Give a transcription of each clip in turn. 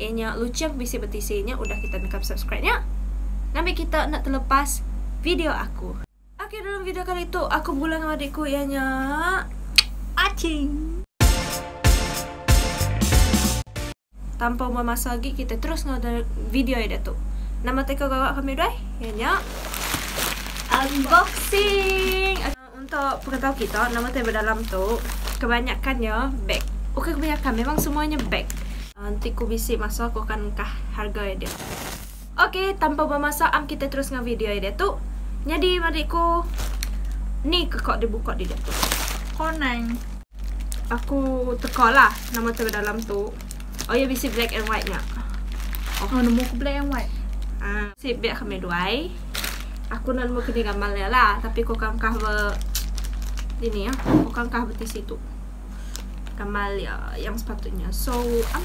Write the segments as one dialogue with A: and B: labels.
A: iya nya lucheng bisi betisi nya udah kita nekap subscribe nya ngambi kita enda telepas video aku. Okey dalam video kali tu aku begulai dengan adik ku iya nya Aching. Tanpa buang masa lagi kita terus dengan video ya datu. Nama teko gawak kami doi? Iya nya unboxing. Okay. Untuk pengetau kita nama tai bedalam tu kebanyakan nya beg. Bukan kebanyakan memang semua nya beg. Enti ku bisi masa ku akan engkah harga iya dia. Ok tanpa bemasak am kita terus enggau video iya dia tu. Nyadi marik ku ni ke ko dibuka ditu. Koneng. Aku teka lah nama cermin dalam tu. Oh ya bisi black and white nya. Oh, oh nemu
B: ke black and white. Ah, si biak
A: kami duai. Aku nak nemu kini gambar dia lah, tapi kau kan kah be ini ya, kau kan kah beti situ. Gambar dia yang sepatutnya. So, um,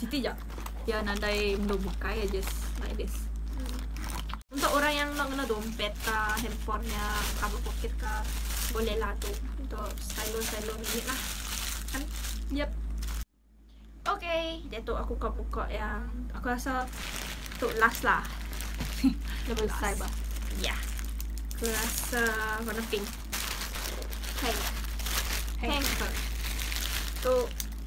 B: Siti ja pia nadai endur bukai ya just like this.
A: Untuk orang yang enda ngena dompet ka handphone nya cover pocket ka boleh lah tu untuk stylo stylo ngenyit lah kan yep. Ok diatu aku ka buka ya aku rasa tu last lah dah
B: besai bah ya
A: aku rasa warna pink. Pink. Pink. Pink. Tu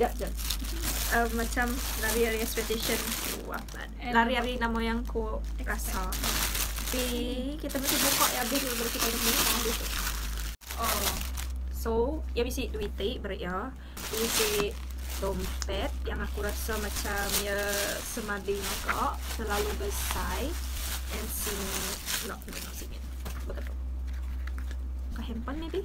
A: Jap jap. Um, macam lari hari expectation ku apa? Lari hari nama yang ku rasa. Tapi kita mesti buka ya habis baru kita ada mesti tahu tu. Oh.
B: So,
A: ya bisi duit ti beri ya. Bisi dompet yang aku rasa macam ya semadi muka terlalu besar and sini no no no sini betul kah handphone maybe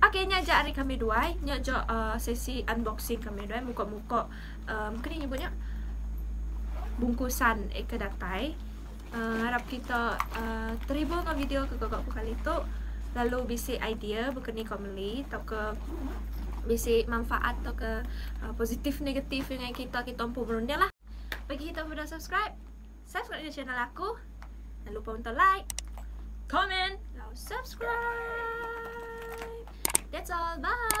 A: Ok nya aja ari kami duai, nya aja sesi unboxing kami duai muka muka uhh mungkin nya nyebut nya bungkusan eh ke datai uhh harap kita uhh teribur enggau video ke gaga ku kali tu lalu bisi idea baka ni ko meli tauka bisi manfaat tauka positif negatif ngagai kita kita empu berunding lah bagi kita ke udah subscribe. Subscribe ke channel aku. Jangan lupa untuk like, comment, lalu subscribe. That's all. Bye.